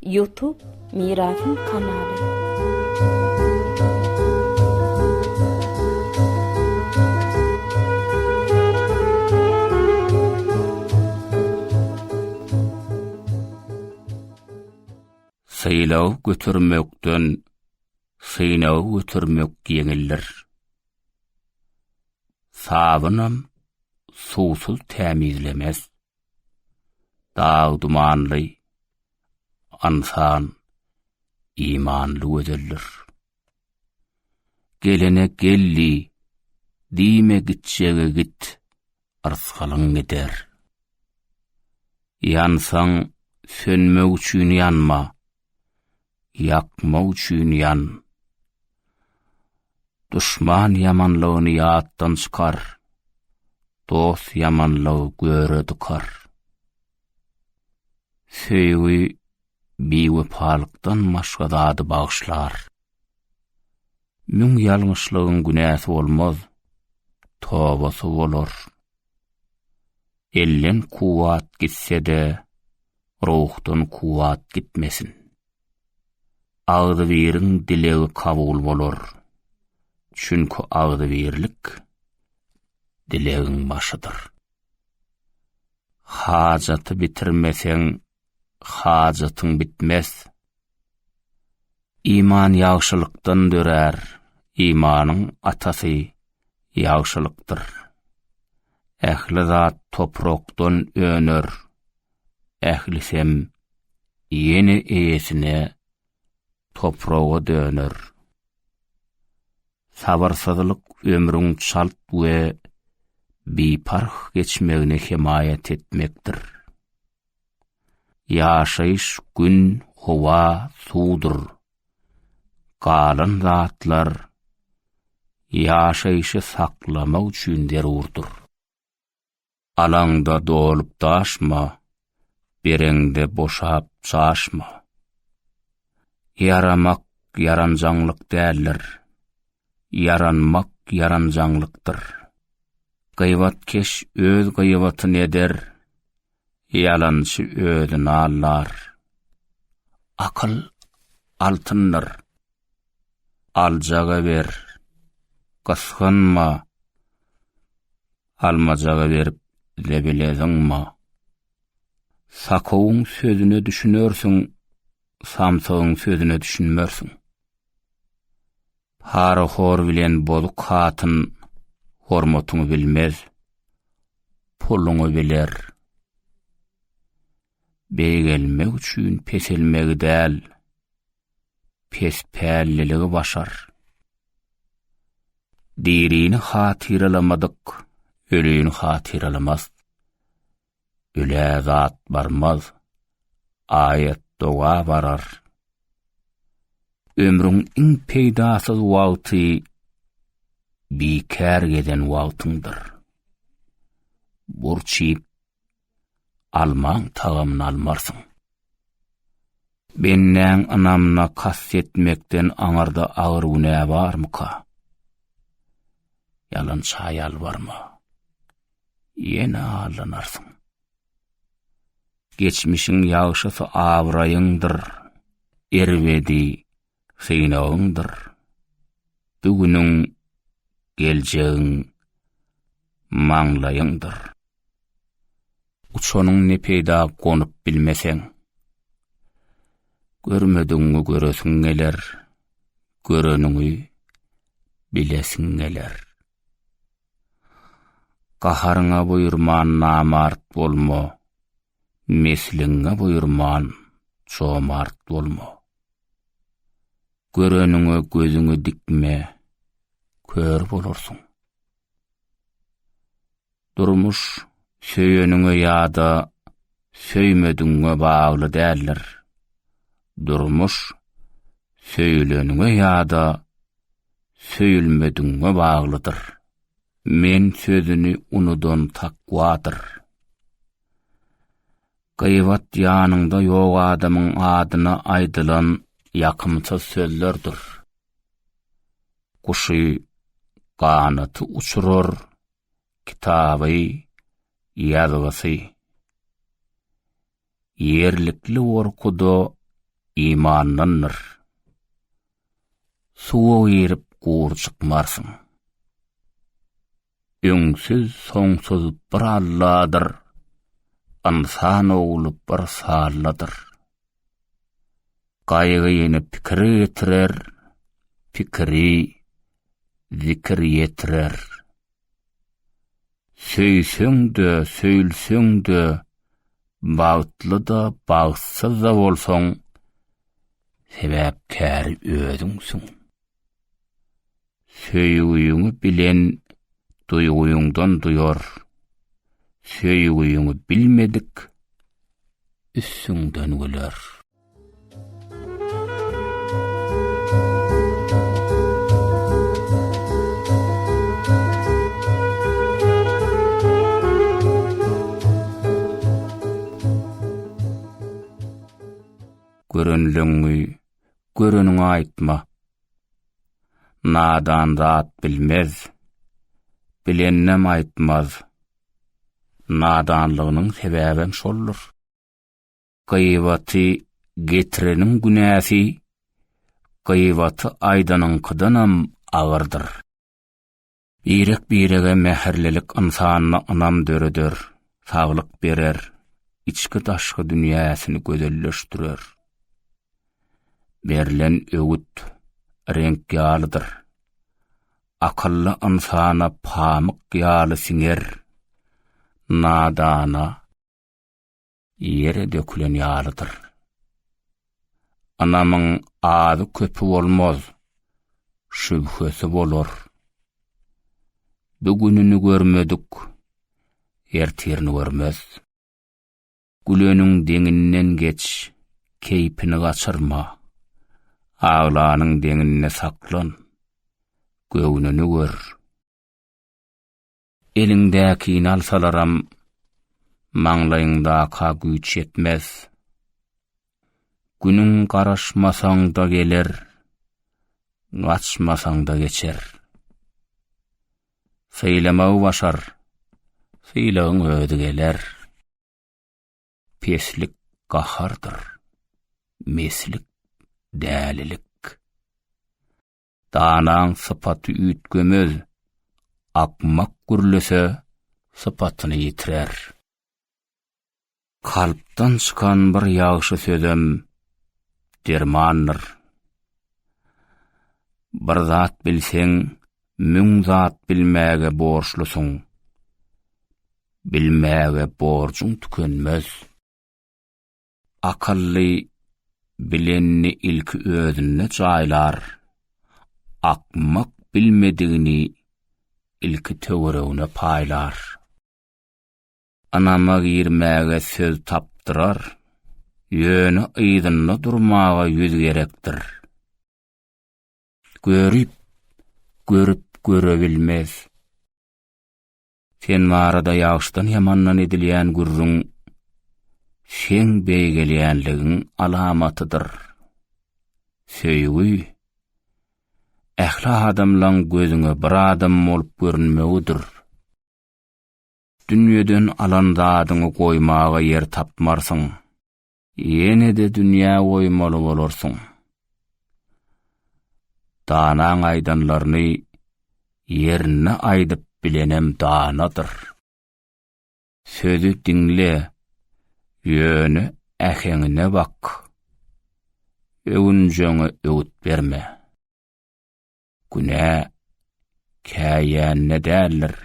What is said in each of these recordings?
Youtube Mirasym kanaly. Sylag götermekden synag götermek ýeňildir. Sabynam suwsuz tämizlemez. Dag dumanly ynsan imanly gözeldir. Gelene geldi, diýme gitjege git, yrskalyň gider. Ýansaň sönmek üçin ýanma, ýakmak üçin ýan. Duşman ýamanlygyny ýatdan çykar, dost ýamanlygy göre dykar. Söýgi biwepalykdan başga zady bagyşlar. Müň ýalňyşlygyň günäsi bolmaz, tobasy bolar. Elden kuwwat gitse-de, ruhdan kuwwat gitmesin. Agzybiriň dilegi kabul bolar. Çünki agzybirlik dilegiň başydyr. Hajaty bitirmeseň, hajatyň bitmez. Iman ýagşylykdan dörär, imanyň atasy ýagşylykdyr. Ähli zat toprakdan öner, ählisem ýene eýesine topraga döner. Sabyrsyzlyk ömrüň çalt we biparh geçmegine hemaýat etmekdir. Ýaşaýyş gün, howa, suwdur. Galan zatlar ýaşaýşy saklamak üçin zerurdyr. Alaňda dolup daşma, bereňde boşap çaşma. Ýaramak ýaranjaňlyk däldir. Ýaranmak ýaranjaňlykdyr. Gybatkeş öz gybatyny eder, Ýalançy özüni aldar. Akyl altyndyr. Aljaga ber, gysgynma. Almajaga berip zebile zyňma. Sakowyň sözüne düşünersiň, samsygyň sözüne düşünmersiň. Parahor bilen bozuk hatyn hormatyňy bilmez, puluňy biler. Beýgelmek üçin peselmegi däl, pespälliligi başar. Dirini hatyralamadyk, ölüni hatyralamaz. Öle zat barmaz, aýat doga barar. Ömrüň iň peýdasyz wagty bikär gezen wagtyňdyr. Burç iýip, almaň tagamyny almarsyň. Bendäň ynamyna kast etmekden aňyrda agyr günä barmyka? Ýalança ýalbarma. ýene allanarsyň. Geçmişiň ýagşysy abraýyňdyr, erbedi synagyňdyr. Bu günüň, geljegiň maňlaýyňdyr. Uçanyň ne peýda gonup bilmeseň. Görmediňi göresiň geler, göreniňi bilesiň geler. Gaharyňa buýurman namart bolma, Mesliňe buýurman jomart bolma. Göreniňe gözüňi dikme, kör bolarsyň. Durmuş söýeniňe ýa-da söýmedigiňe bagly däldir. Durmuş söýüleniňe ýa-da söýülmedigiňe baglydyr. Men sözüni unudan takwadyr. Gyýbat ýanyňda ýok adamyň adyna aýdylan ýakymsyz sözlerdir. Guşy ganaty uçurar, kitaby ýazgysy. Ýerlikli gorkuda imandandyr. Suwa girip gury çykmarsyň. Öňsüz soňsuz bir Alladyr. Ynsan ogly bir salladyr. Gaýgy ýene pikiri getirer, pikiri zikir ýetirer. Söýseň-de, söýülseň-de, bagtly-da, bagtsyz-da bolsaň, sebäpkäri özüňsiň. Söýgüňi bilen duýgyňdan duýar. Söýgüňi bilmedik üstüňden güler. görenleňňi göreniňe aýtma. Nadan zat bilmez, bileninem aýtmaz. Nadanlygynyň sebäbem şoldur. Gyýbaty getireniň günäsi gyýbaty aýdanyňkydanam agyrdyr. Birek-birege mähirlilik ynsanda ynam döreder, saglyk berer, içki-daşky dünýäsini gözelleşdirer. Berlen öwüt reňk ýalydyr. Akylly ynsana pamyk ýaly siňer, nadana, ýere dökülen ýalydyr. Ynamyň azy-köpi bolmaz, şübhesi bolar. Bu gününi görmedik, ertirini görmez. Güleniň deňinden geç, keýpini gaçyrma. Aglanyň deňinde saklan, göwnüni gör. Eliňdäkini alsalaram, maňlaýyňdaka güýç ýetmez. Günüň garaşmasaň-da geler, gaçmasaň-da geçer. Sylamagy başar, sylagyň özi geler. Peslik gahardyr, meslik dälilik. Danaň sypaty üýtgemez, akmak gürlese, sypatyny ýitirer. Kalpdan çykan bir ýagşy sözem dermandyr. Bir zat bilseň, müň zat bilmäge borçlusyň. Bilmäge borjuň tükenmez. Akylly bilenini ilki özünde jaýlar, akmak bilmedigini ilki töweregine paýlar. Ynama girmäge söz tapdyrar, ýöne yzynda durmaga ýüz gerekdir. Görip, görüp görebilmez. Sen barada ýagşydan-ýamandan edilýän gürrüň seň beýgelýänligiň alamatydyr. Söýgi ähli adamlaň gözüňe bir adam bolup görünmegidir. Dünýeden alan zadyňy goýmaga ýer tapmarsyň. Ýene-de dünýä goýmaly bolarsyň. Danaň aýdanlaryny ýerine aýdyp bilenem danadyr. Sözi diňle, ýöne äheňine bak. Öwünjeňe öwüt berme. Günä käýände däldir,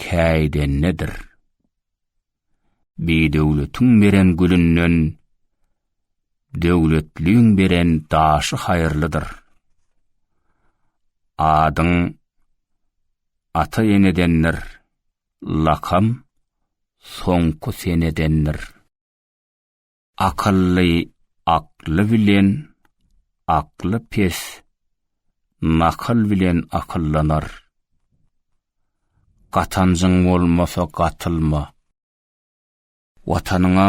käýdendedir. Bidöwletiň beren gülünden döwletliň beren daşy haýyrlydyr. Adyň ata-enedendir, lakam soňky senedendir. Akylly akly bilen, akly pes nakyl bilen akyldanar. Gatanjyň bolmasa gatylma. Watanyňa,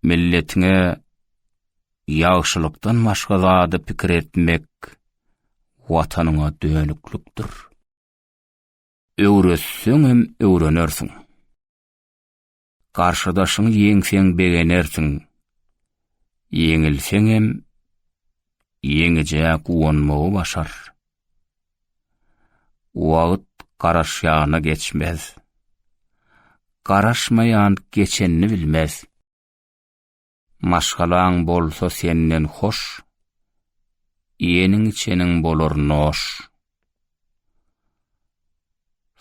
milletiňe ýagşylykdan başga zada pikir etmek Watanyňa dönüklikdir. Öwretseňem öwrenersiň. Garşydaşyňy ýeňseň begenersiň. Ýeňilseňem, ýeňijä guwanmagy başar. Wagt garaşýana geçmez. Garaşmaýan geçenini bilmez. Maşgalaň bolsa senden hoş, Iýeniň-içeniň bolar noş.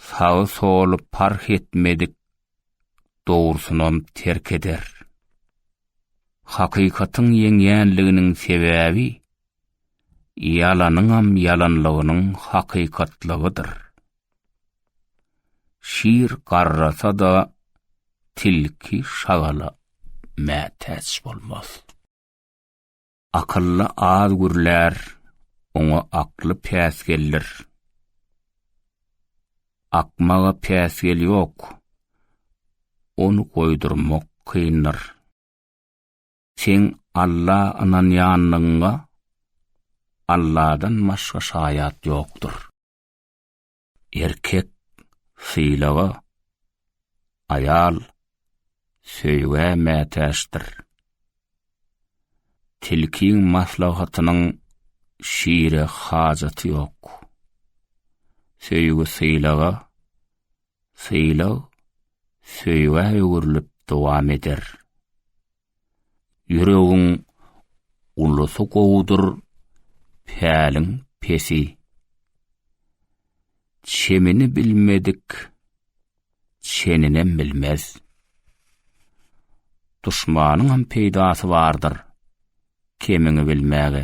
Sagy-soly parh etmedik Dogrusynam terk eder. Hakykatyň ýeňýänliginiň sebäbi Ýalanyňam ýalanlygynyň hakykatlygydyr. Şir garrasa-da, tilki şagala mätäç bolmaz. Akylly az gürlär, oňa akly päsgeldir. Akmaga päsgel ýok, ony goýdurmak kyndyr. Seň Alla ynanýanlygyňa Alladan başga şaýat ýokdur. Erkek sylaga, aýal söýgä mätäçdir. Tilkiň maslahatynyň şire hajaty ýok. Söýgi sylaga, sylag söýgä öwrülip dowam eder. Ýüregiň ulusy gowudyr, päliň pesi. Çemini bilmedik çeninem bilmez. Duşmanyňam peýdasy bardyr, kemiňi bilmäge.